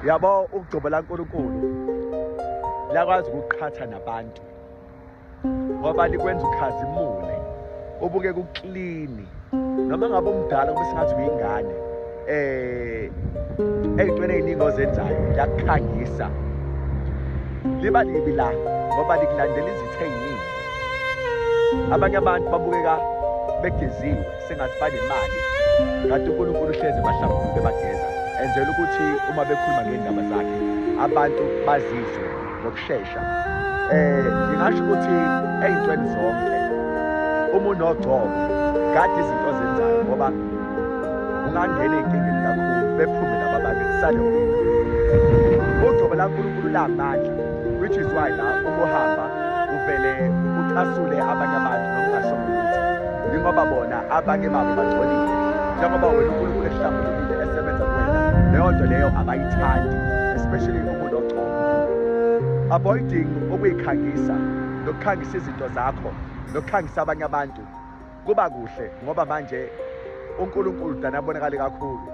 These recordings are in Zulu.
yabo ukugcobo laNkulunkulu lakwazi ukuqhatha nabantu ngoba likwenza ukhazimule ubuke kuklini noma ngabe umdala kube singathi uyingane eh eyitweni eziningi ozenzayo liyakukhangisa liba libi la ngoba likulandela izithe eziningi abanye abantu babukeka begeziwe sengathi banemali kanti unkulunkulu uhlezi ebahlanguli bebageza enzela ukuthi uma bekhuluma ngey'ndaba zakhe abantu bazizwe ngokushesha um ngingasho ukuthi ey'ntweni zonke uma unogcobo kade izinto ozenzayo ngoba ungangena ey'nkingeni kakhulu bephume laba bantu kusale ugcobo lankulunkulu lamandla which is why la uma uhamba uvele ucasule abanye abantu Yingoba bona abanye babo bangcolile njengoba wena uNkulunkulu ehlambulukile esebenza kuwena leyo nto leyo abayithandi especially umuntu ogcobo avoiding ukuyikhangisa nokukhangisa izinto zakho nokukhangisa abanye abantu kuba kuhle ngoba manje uNkulunkulu dana abonakali kakhulu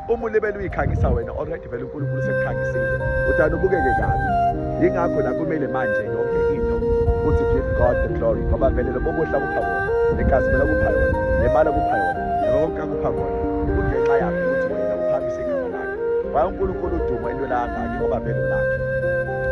uma ulibele uyikhangisa wena already vele unkulunkulu sekukhangisile udana ubukeke kabi yingakho la kumele manje yonke into uthi give god the glory ngoba vele lobo buhla kupha kona negazi phela kupha yona nemali kupha yona nakonke akupha kona kungenxa yakho ukuthi wena uphamise igama lakhe waye unkulunkulu udumo into lakangaki ngoba vele lakhe